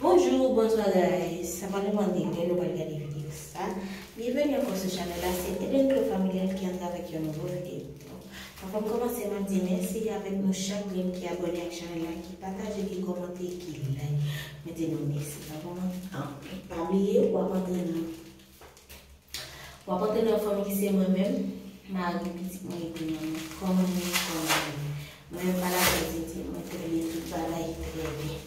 Bonjou ou bonswa guys sa pa nou manke ke nou pral gade video sa byenveni ankò sou chanèl la se Edenclo Familial ki antre avèk yon nouvo video avanm kòmanse map di mèsi avèk nou chak grenn ki abòne ak chanèl la ki pataje ki kòmante ki like mwen di nou mèsi sa bon anpil pa bliye wap antre nan. Wap antre nan fanm ki se mwen menm mari pitit mwen epi manman kòman nou ye kòman nou ye mwen menm pa lakay Dieudie mwen trè byen tout bagay trè byen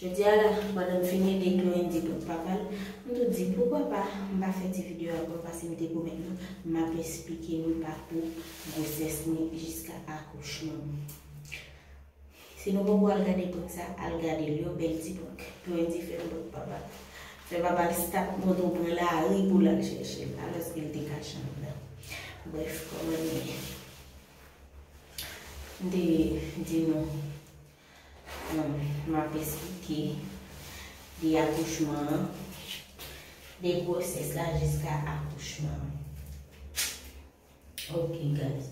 jodi a la pandan m fin ede Chloé di kot papa l m tou di poukwa pa m pa fè ti video ak nou pase mete komèt nou map esplike nou pakou gwosès mwen jiska akouchman m. Si nou poko al gade bout sa al gadel yo bèl ti bouk yo endiferan bout papa fè papal start moto pran lari poul al chèchel alòske l te kache anndan brèf kòman li ye m te di nou map esplike de akouchman an de gwosès la jiska akouchman an. Ok guys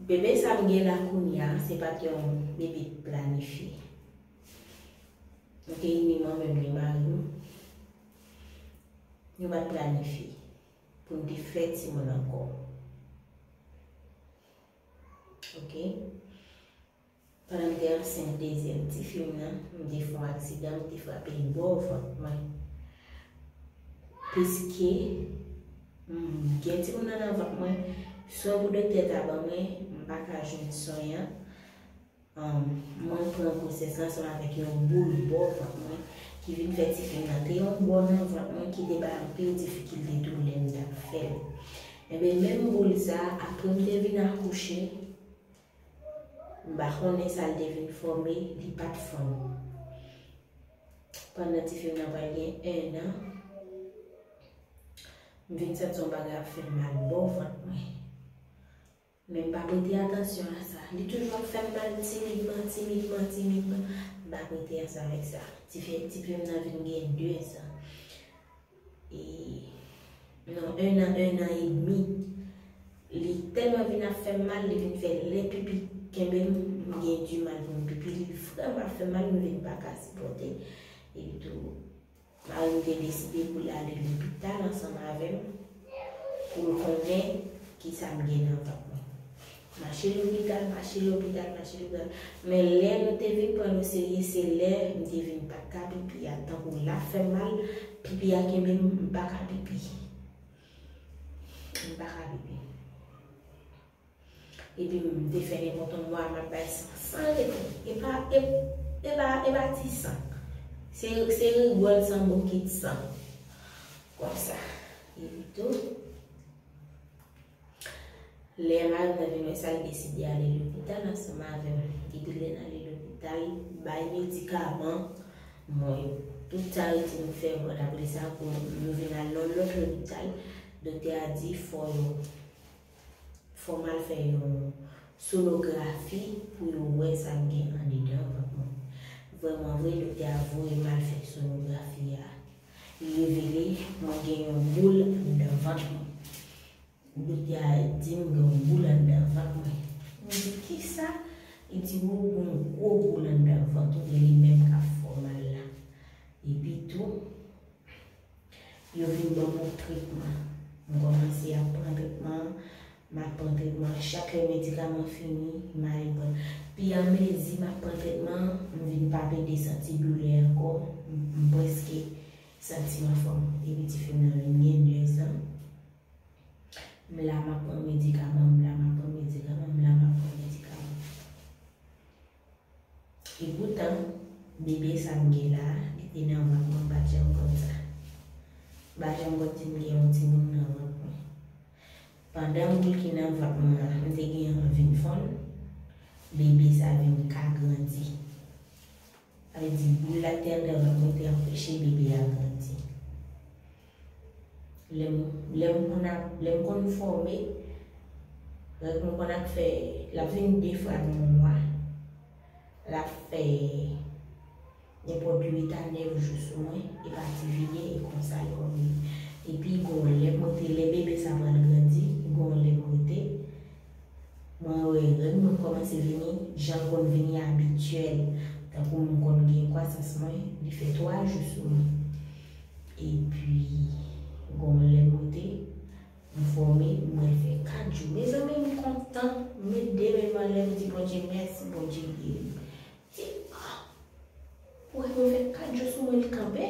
Bebe sa m gen la kounya se pat yon bebe planifye Ok ni mwen menm ni mari m Nou pat planifye pou n te fè timoun ankò Ok. Pandan m te ansent dezyèm tifi m nan, m te fè yon aksidan m te frape bò vant mwen. Piske m gen timoun nan nan vant mwen, swen pou doktè ta ban mwen, m pa ka jwenn swen an. Mwen pran gwosès lan ansanm avèk yon boul bò vant mwen ki vin fè tifi m nan te yon bò nan vant mwen ki te bay anpil difikilte tou lè m t ap fè l. Enben menm boul sa a, apre m te vin akouche, M pa konnen sa l te vin fòme, li pa t fanm. Pandan ti fi m nan pral gen ennan, m vin santi yon bagay ap fè m mal bò vant mwen. Men m pa prete atansyon a sa. Li toujou ap fè m mal timidman, timidman, timidman. M pa prete atansyon avèk sa. Ti pye m nan vin gen 2 zan. Ii non 1 an 1 an e demi li tèlman vin ap fèm mal li vin fè lè pipi kenbem m gen di mal poum pipi li vrèman ap fèm mal m vin paka sipòte epi tou marim te deside poul ale lopital ansanm avèm poul konnen kisam gen nan vant mwen. Mache lopital, mache lopital, mache lopital. Men lè nou te vin pran l oserye se lè m te vin pa t ka pipi a. Tankou l ap fè m mal, pipi a kenbe m, m pa ka pipi. M pa ka pipi. Epi m te fè nenpòt yon mwa m ap bay san san rete. E pa, e pa, e pa ti san. Se rigòl san bokit san. Konsa. Epitou. Lè malad la vin wè sa, li deside ale lopital ansanm avè m. Depi lè n ale lopital, bay medikaman, bon yo tout sa yo di nou fè, bon apre sa pou nou vin al nan yon lòt lopital, doktè a di fò yo, fò m al fè yon sonografi pou yo wè sa m gen andedan vant mwen. Vrèmanvre, doktè a voye m al fè sonografi a. Li revele mwen gen yon boul nan vant mwen. Mika di m gen yon boul anndan vant mwen. Mwen di kisa? Li di ou gen yon gwo boul anndan vant ou e li menm k ap fè w mal la. Epi tou, yo vin ban m yon tretman. M kòmanse ap pran tretman an. M ap pran tretman an. Chak lè medikaman fini, m ale pran l. Pi a mezi m ap pran tretman an, m vin pa pede santi doulè ankò. M prèske santi m anfòm. Epi ti fi m nan vin gen 2 zan. M la m ap pran medikaman, m la m ap pran medikaman, m la m ap pran medikaman. E poutan, bebe sa m gen la, depi nan vant mwen m pa t janm konn sa. M pa janm konn si m gen yon timoun nan vant mwen. Pandan boul ki nan vant mwen an, m te gen anvi n fonn, bebe sa vin ka grandi. Sa vle di boul la ki te anndan vant mwen te anpeche bebe a grandi. Lè m konn ap, lè m konn fòme, règ mwen konn ap fè, l ap vin de fwa nan yon mwa. L ap fè nenpòt 8 a 9 jou sou mwen, e pa ti vide, e konsa l konn ye. Epi gon lè kote lè bebe sa pral grandi, gon lè kote. Mwen wè règ mwen kòmanse vini jan l konn vini abityèl, tankou m konn gen kwasans mwen, li fè 3 jou sou mwen. Epi gon lè m rete, m fòme, m wè l fè 4 jou. Mezanmi m kontan, m met 2 men m anlè m di Bondye mèsi, Bondye geri m. Li di, ah! Ou wè m yo fè 4 jou sou mwen li kanpe?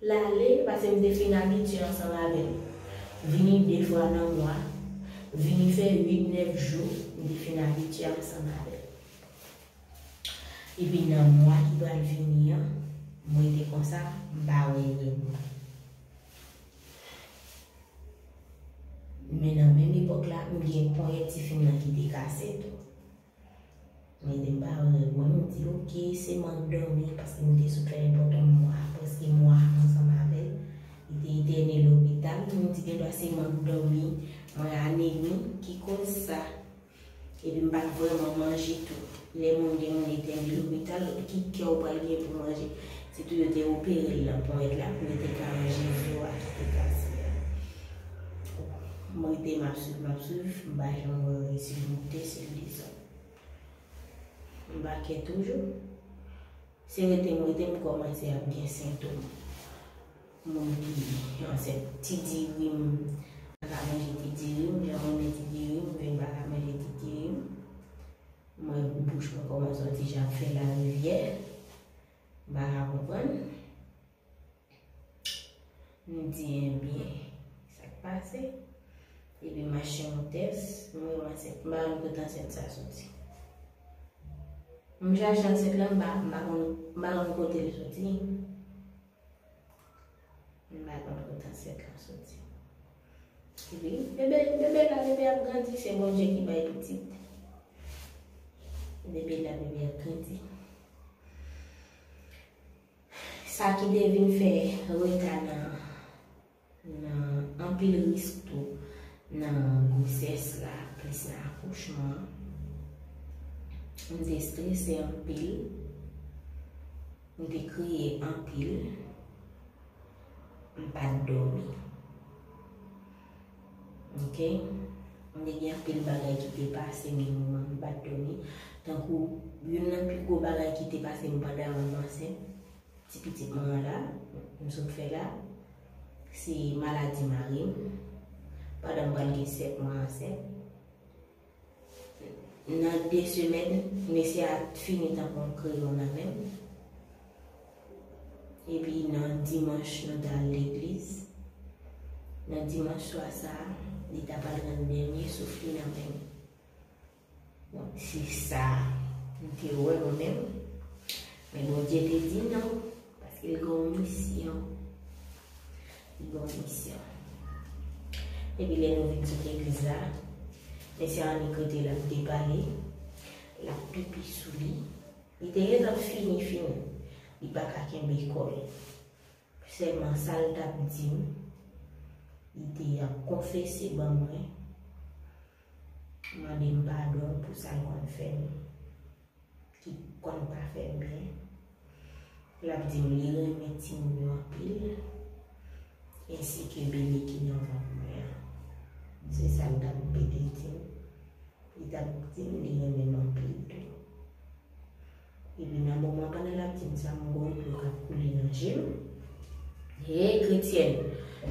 L ale, paske m te fin abitye ansanm avè l. Vini de fwa nan mwa, vini fè uit nèf jou, m te fin abitye ansanm avè l. Epi nan mwa ki pral vini an, m rete konsa, m pa wè li. Men nan menm epòk la, m gen ponyèt ti fim nan ki te kase tou. Men depi m pa wè règ mwen, m di ok se mank dòmi paske m te sou fè nenpòt yon mwa, prèske mwa ansanm avè l. Li te etène lopital, m di gendwa se mank dòmi, mwen anemi ki koz sa. Epi m pa t vrèman manje tou. Lè moun gen moun etène lopital, ki kè ou pral gen pou manje? Se tou yo te opere l nan ponyèt la pou yo te ka manje zo a ki te kase a. M rete m ap swiv, m ap swiv, m pa janm wè yo resi moute sou Dizon. M pa kè toujou. Se rete m rete m kòmanse ap gen sentom moun ki ansent. Ti diri m pa ka manje ti diri m, jan m renmen ti diri m, vin pa ka manje ti diri m. M wè bouch mwen kòmanse on ti jan ap fè larivyè. Bala konprann. M di enbyen, sa k pase? Li di mache moute s, m wè w ansent. M pa konn kote ansent sa soti. M chache ansent lan, m pa konn kote l soti. M pa konn kote ansèt la soti. Epi bebe bebe la bebe ap grandi se Bondye ki bay pitit. Bebe la bebe ap grandi. Sa ki te vin fè reta nan nan anpil risk tou nan gwosès la plis nan akouchman an. M te strese anpil. M te kriye anpil, m pa t dòmi. Ok. M te gen anpil bagay ki te pase m gen moman m pa t dòmi. Tankou youn nan pi gwo bagay ki te pase m pandan m ansent, ti pitit mwen an la, m sot fè la, se maladi mari m. Pandan m pral gen 7 mwa ansent. Nan 2 semèn mesye a fini tanpon l kreyon nan men l. Epi nan dimanch nou ta al legliz. Nan dimanch swa sa, li ta pral rann dènye souf li nan men m. Donk se sa m te wè mwen menm. Men Bondye te di non. Paske l gen yon misyon. Li gen yon misyon. Epi lè nou vin sou legliz la, mesye Annik rete la ap depale, l ap pipi sou li. Li te gentan fini fini. Li pa ka kenbe kò l. Sèlman sa l t ap di m, li te ap konfese ban mwen. Mande m padon pou sa l konn fè m ki konn pa fè m byen. L ap di m li renmen timoun yo anpil ensi ke bebe ki nan vant mwen an. Se sa l t ap repete di m. Li t ap di m li renmen m anpil tou. Epi nan moman pandan lap dim sa m wè dlo kap koule nan jem hey kretyèn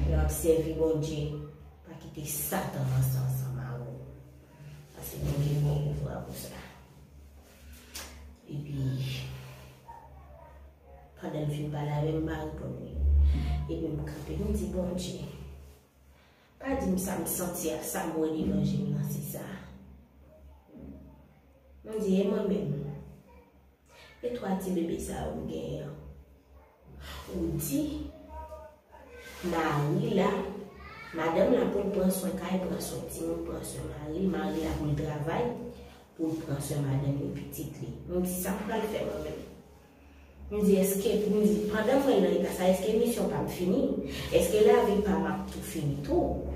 lèw ap sèvi Bondye pa kite satan ranse ansanm avèw pase Bondye gen pouvwa pou sa epi pandan l fin pale avèm m pa reponn li epi m kanpe m di Bondye. Pa dim sam santi ak sam wè devan jem nan se sa. M di e mwen menm? E 3 ti bebe sa yo m genyen an? Ou di mari la, madanm la poul pran swen kay, pran swen timoun, pran swen mari, mari la poul travay, poul pran swen madanm li, pitit li. M di sa m pral fè mwen menm? M di eske m di pandan mwen nan eta sa eske misyon pam fini eske lavi pam ap tou fini tou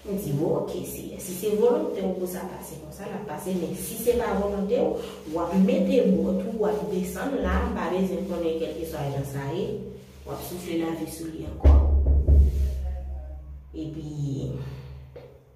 m di w ok seyè si se volonte w pou sa pase konsa lap pase men si se pa volonte w wap mete bò tou wap desann la m pa bezwen konnen kèlkeswa jan sa ye wap soufle lavi sou li ankò epi.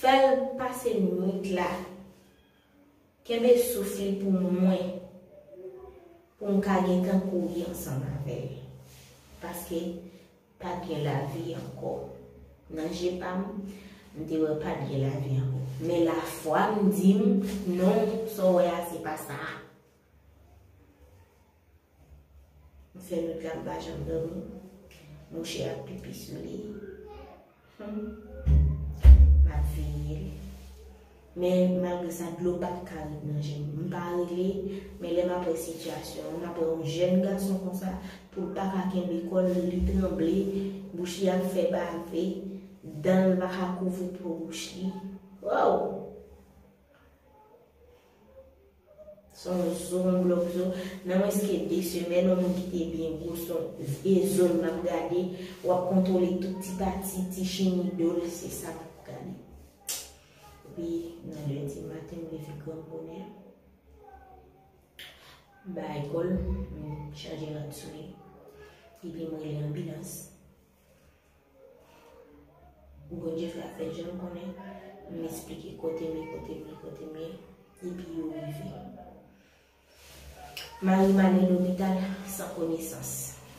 Fèl pase nwit la. Kenbe souf li pou mwen pou m ka gentan kouri ansanm avè l. Paske pat gen lavi ankò. Nan je pa m, m te wè pat gen lavi ankò. Men lafwa m di m, non, sa w wè a se pa sa a. M fè nwit la m pa janm domi. Mouche ap pipi sou li. Humm. M ap veye l. Men malgre sa dlo pa t ka ret nan je m. M pa rele, men lè m ap wè sitiyasyon an, m ap wè yon jèn gason konsa pou l pa ka kenbe kò l, li tranble, bouch li ap fè bave, dan l pa ka kouvri po bouch li. Woww! Son zo m vle w zo nan mwens ke 2 semèn yon moun ki te byen gwo son vye zo l map gade wap kontwole tout ti pati ti chimi do l se sa map gade epi nan lendi maten m leve gran bonè m bay kòl m chanje rad sou li epi m rele anbilans. Bondye fè afèl janl konnen, m esplike kotem ye kotem ye kotem ye epi yo rive. Marim ale lopital san konesans.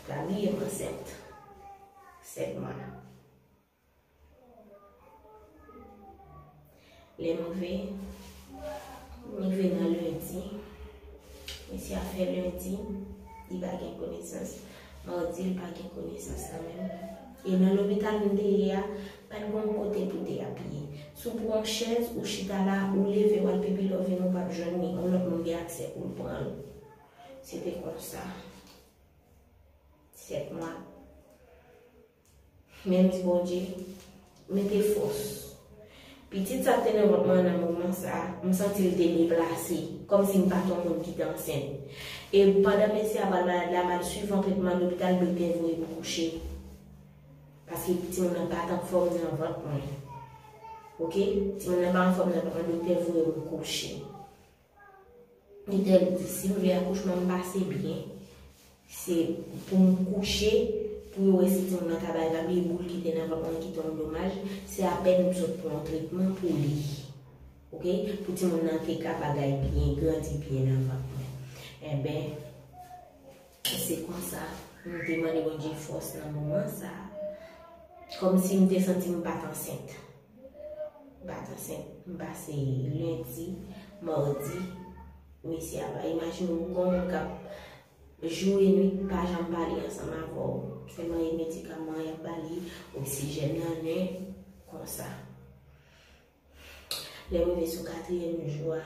Lamirem ansent 7 mwa. Lè m rive, m rive nan lendi. Mesye a fè lendi, li pa gen konesans. Madi, li pa gen konesans nan menm. E nan lopital m te ye a, pa t gen yon kote pou te apiye. Si w pran yon chèz, ou chita la, ou leve, w al pipi, lè w vini, ou pap jwenn li. Yon lòt moun gen aksè pou l pran l. Se te konsa. 7 mwa. Mèsi Bondye mete fòs. Pitit sa te nan vant mwen nan moman sa, m santi l te deplase, kòmsi m pa t yon moun ki te ansent. E pandan mesye a pral malad la, m al suiv yon tretman lopital doktè voye m kouche. Paske timoun nan pa t anfòm nan vant mwen. Ok, timoun nan pa anfòm nan vant mwen, doktè voye m kouche. Mtè di si m vle akouchman m pase byen se pou m kouche pou yo wè si timoun nan ka bay papi e boul ki te nan vant mwen ki tonbe domaj se apèn m sot pran yon tretman pou li ok pou timoun nan te ka bagay byen grandi byen nan vant mwen enben Se konsa, m te mande Bondye fòs nan moman sa a. Kòmsi m te santi m pa t ansent. M pa t ansent. M pase lendi, madi, mesye a pa. Imajine w gon moun k ap jou e nuit pa janm pale ansanm avè w. Sèlman e medikaman y ap ba li, oksijèn nan nen, konsa. Lè m rive sou katriyèm jou a,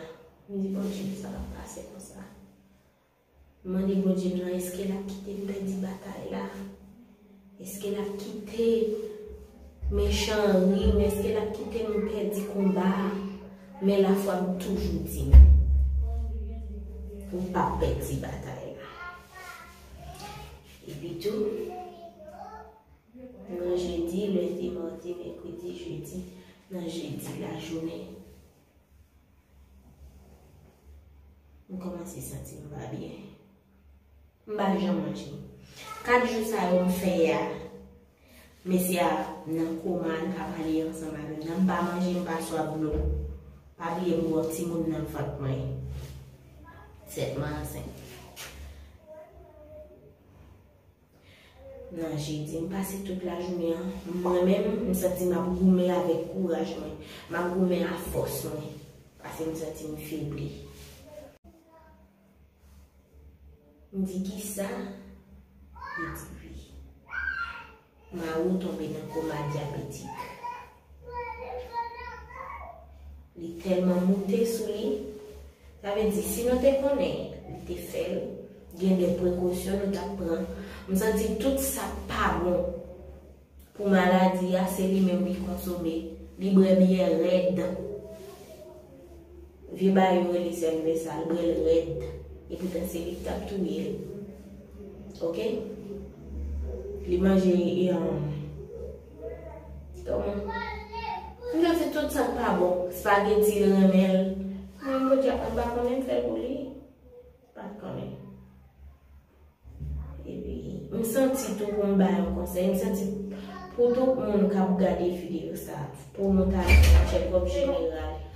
m di Bondye sa pa p pase konsa. M mande Bondye m nan eske l ap kite m pèdi batay la? Eske l ap kite mechan an ri m? Eske l ap kite m pèdi konba a? Men lafwa m toujou di m, Ou pap pèdi batay la. Epitou, nan jedi, lendi, madi, mèkredi, jedi, nan jedi lajounen, M kòmanse santi m pa byen. M pa janm manje. 4 jou sa yo m fè a, mesye a nan koma, li pa pale ansanm avè m nan, m pa manje, m pa swaf dlo. Pa bliye m gen yon timoun nan vant mwen. 7 mwa ansent. Nan jedi, m pase tout lajounen an mwen menm, m santi m ap goumen avèk kouraj mwen, m ap goumen a fòs mwen, pase m santi m febli. M di kisa? Li di wi. Mari w tonbe nan koma dyabetik. Li telman moute sou li. Sa vle di si nou te konnen li te fel gen de prekosyon nou tap pran. M santi tout sak pa bon pou maladi a se li menm li konsome. Li brè biyè red. Vye baay yo rele sel de sa l brel red. E poutan se li ki tap touye l. Ok. Li manje e an. M nan se tout sak pa bon. Spaghetti l renmen l. Mwen menm podyab mwen pa konnen m fè l pou li. M pa t konnen. Epi m santi tou pou m bay yon konsèy. M santi pou tout moun k ap gade videyo sa. Pou nou ta fè yon tchekòp jeneral.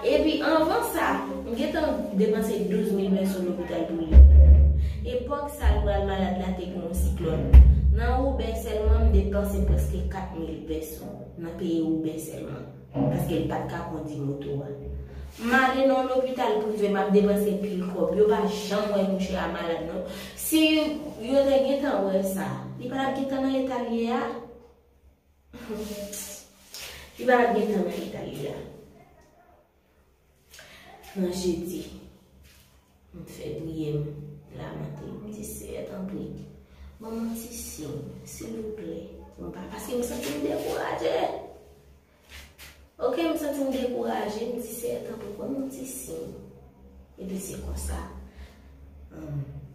Epi anvan sa, m gentan depanse 12 mil men sou lopital pou li. Epòk sa l pral malad la te gen yon siklòn. Nan Woubè sèlman m depanse prèske 4 mil pèso nan peye Woubè sèlman. Paske l pat ka kondi moto a. M ale nan yon lopital prive m ap depanse pil kòb. Yo pa janm wè mouche a malad non. Si yo te gentan wè sa, li pa tap gentan nan eta l ye a. Li pa tap gentan nan eta li a. Nan jedi. M t fè priye m. M lamante. M di seyè tanpri. Ban m yon ti siy. Silvouplè. Paske m santi m dekouraje. Ok m santi m dekouraje m di seyè tanpri banm yon ti siy epi se konsa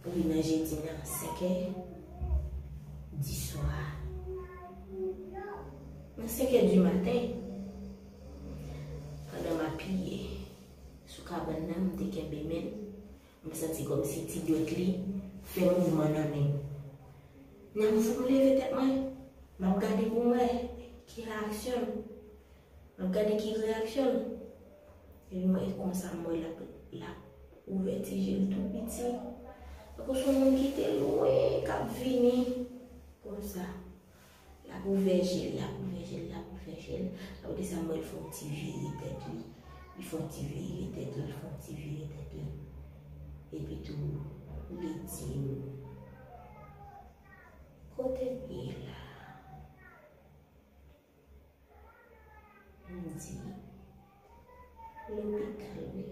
rive nan jedi nan 5 è di swa nan 5 è di maten pandan map priye sou kabann nan m te kenbe menl M santi kòmsi ti gyòt li fè mouvman nan men m. Nan m fout m leve tèt mwen, m ap gade pou m wè ki reyaksyon l. M ap gade ki reyaksyon l. Epi mwen e konsa m wè l ap l ap ouvè ti je l tou piti. Tankou s on moun ki te lwen k ap vini konsa. Lap ouvè jel lap ouvè jel lap ouvè jel aprè sa m wèl fon ti vire tèt li li fon ti vire tèt li li fon ti vire tèt li epi tou li dim kote m ye la m di lopital wi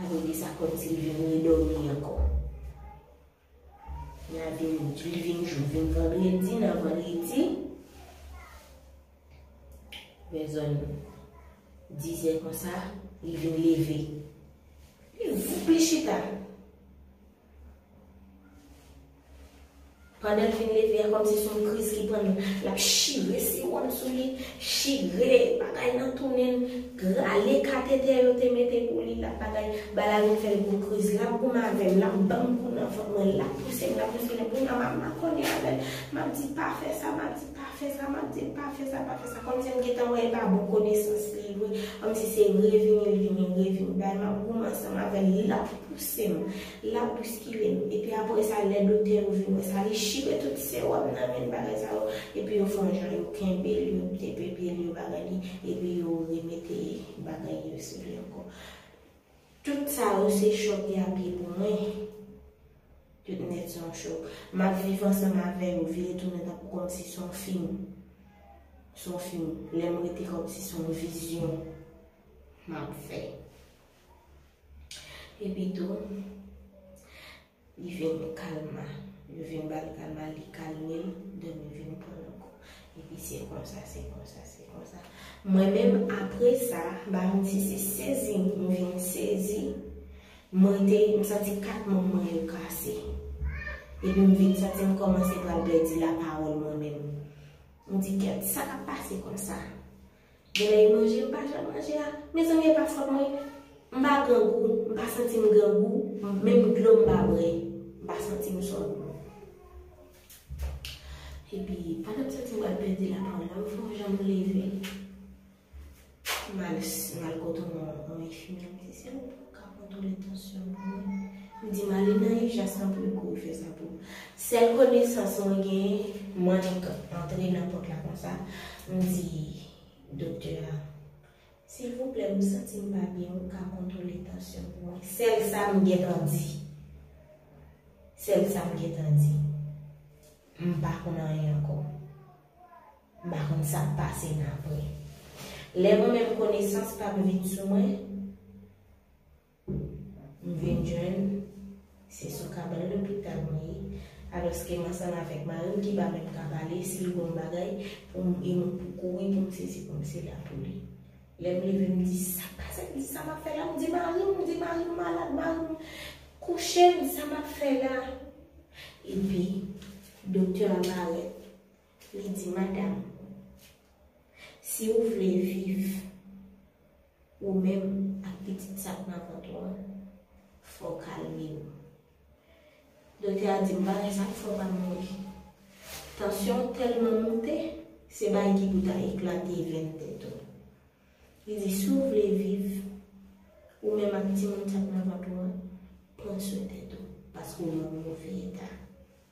aprè sa kòmsi li vin redomi ankò. Gade moun li vin jou vin vandredi nan vandredi vè zòn 10 zè konsa li vin leve li voup li chita pandan li vin leve a kòm si son kriz ki prann lap chire siwòl sou li chire bagay nan tounen l Rale katetè yo te mete pou li lap bagay bala vin fèl gwo kriz lap goumen avèm lap banm kou nan vant mwen lap pousem lap pousem lap kounya map makonnen avèl map di pa fè sa map di pa fè sa map dil pa fè sa pa fè sa kòmsi m gentan wèl pa bon konesans li vre kòmsi se revini l vini revini bay map goumen ansanm avèl lap pousem L ap bouskile m. Epi apre sa, lè doktè yo vin wè sa, li chire tout sewòm nan men l bagay sa yo, epi yo fè yon jan yo kenbe l, yo tepe pye l, yo bagay li, epi yo remete bagay yo sou li ankò. Tout sa yo se chòk y ap ye pou mwen. Tout nèt se yon chòk. M ap viv ansanm avè yo, vire tounen tankou kòmsi se yon fim. Se yon fim. Lè m rete kòmsi se yon vizyon m ap fè. Epi tou, li vin kalma. Yo vin ba l kalma, li kalme l, dòmi vin pran l ankò. Epi se konsa, se konsa, se konsa. Mwen menm apre sa, m pa konn si se sezi m vin sezi, mwen te, m santi kat manm mwen yo kase. Epi m vin santi m kòmanse pral pèdi lapawòl mwen menm. M di, kèt, sa k ap pase konsa? Gen lè li manje m pa janm manje a mezanmi epa fòt mwen m pa grangou m pa santi m grangou menm dlo m pa bwè m pa santi m sòt epi pandan m santi m pral pèdi lapròn nan m fè yon jan m leve m al kote yon enfimyè m di se ou. ka kontwole tansyon pou mwen. M di m ale nan ijans lan pou yo kouri fè sa pou m. Sèl konesans mwen genyen, m annik antre nan pòt la konsa, m di doktè a, silvouplè m santi m pa byen ou ka kontwole tansyon pou mwen. Sèl sa m gentan di. Sèl sa m gentan di. M pa konn anyen ankò. M pa konn sa k pase n apre. Lè mwen menm konesans pa m vin sou mwen, m vin jwenn se sou kabann lopital mwen ye, alòske m ansanm avèk mari m ki pa menm ka pale, si l bon bagay pou m e m pou kouri pou m sezi pou m se la pou li. Lè m leve m di sa k pase m, sa m ap fè la, m di mari m, m di mari m malad, mari m kouche m, sa m ap fè la? Epi doktè a parèt. Li di madam. Si ou vle viv, ou menm ak pitit sa k nan vant ou an, fò w kalme w. Doktè a di m bagay sa k fè w pa mouri. Tansyon w tèlman moute, se bagay ki pou ta eklate venn tèt ou. Li di si w vle viv, ou menm ak timoun sa k nan vant ou an, pran swen tèt ou, paske w nan move eta.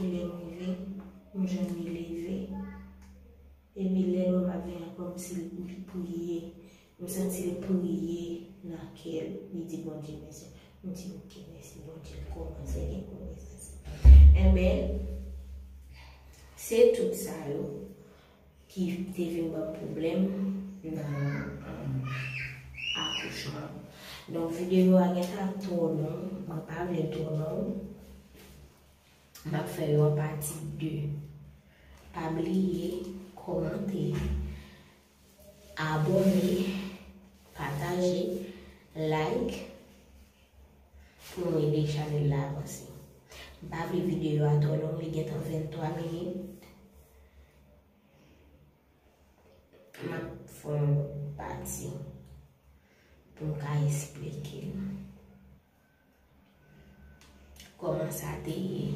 e lèm rive m jwenn li leve epi lè lwa pa gen ankò m sil priye m santil priye nan kèl li di Bondye mèsi m di ok mèsi Bondye m kòmanse gen konesans anben se tout sa yo ki te vin banm pwoblèm nan akouchman donk videyo a gentan ap twò long mwen pa vlel twò long map fè yo an pati 2 pa bliye kòmante abòne pataje like Pou nou ede chanèl la avanse. M pa vle videyo a twò long li gentan 23 minit. M ap fè yon lòt pati pou m ka esplike nou. Kòman sa te ye?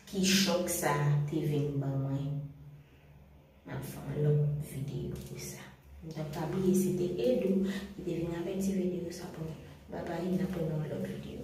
Ki chòk sa te vin ban mwen? Nap fè yon lòt video pou sa. Mtap pa bliye se te Edou ki te vin avèk ti video sa pou nou. Bye bye nap wè nan yon lòt video.